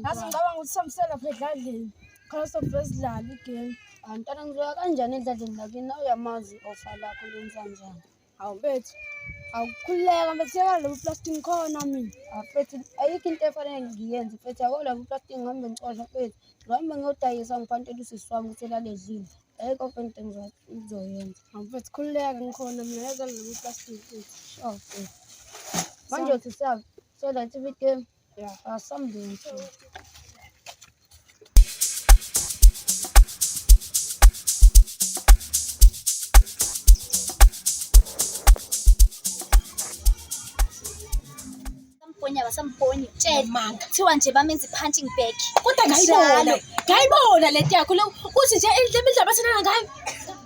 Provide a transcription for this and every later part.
Ngathi ngicabanga ukuthi samsela lapha edladleni khona sobheka sidlale igame Mntwana ngizoya kanjani edladleni lakini nawe uyamazi ofa lakho lenza njani Hawu mfethu, awukhululeka mfethu, yeka lobu plastic khona mina. Hawu mfethu, ayikho into efanele ngiyenze mfethu, yako lobu plastic ngihambe ngixosha mfethu. Ngihambe ngiyodayisa ngiphantelwe usisi wami ukuthi elaledlile. Ayikho mfethu into engizo- engizoyenza. Hawu mfethu, khululeka ngikhona mina, yeka lobu plastic mfethu. Sure mfethu. Manje uthi siyab- siyodlala i-TV game. Ya alsam da iyi. Samponya basamponya tshela manga kuthiwa nje bamenza i-punching bag kodwa ngayibona ngayibona le nto yakho le uthi nje le midlaba sinana ngayo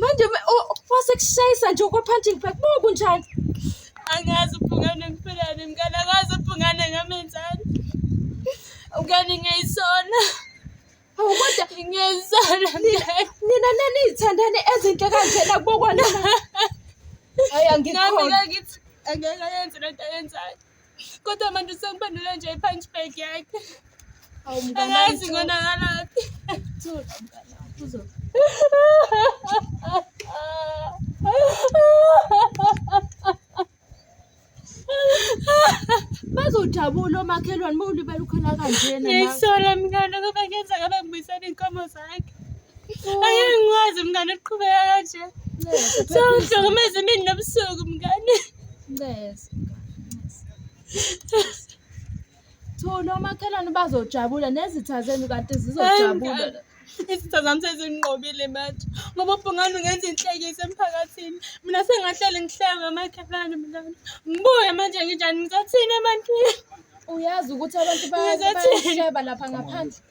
manje wasekushayisa nje okwe-punching bag bo kunjani angazi ubhungane ngiphelane mngane angazi ubhungane ngamenzani mngane ngiyayisona Hawu kodwa ngiyayisona nina naniyithandane ezinhle kanjena kubokwana hayi angikho nami ngakithi angeke ayenze lento ayenzayo Kodwa manje usengiphendule nje i-punch bag yakhe. Awu mngane Angazi wami, ngonakalaphi. Thula mngane wami, uzo- Bazojabula omakhelwane uma ulibela ukhona kanjena. Ngiyisola mngane ngoba ngenza ngabe ngibuyisela iy'nkomo zakhe. Angeke ngikwazi mngane ukuqhubeka kanje. Sawuhlukumeza imini nobusuku mngane. Ncese. Thula omakhelwane bazojabula nezitha zenu kade zizojabula. Izitha zami sezinqobile manje ngoba ubhungane ungenza inhlekisa emphakathini. Mina sengahlele ngihleke omakhelwane mngane. Ngibuye manje nginjani ngizothini ebantwini? Uyazi ukuthi abantu bayahleba lapha ngaphandle.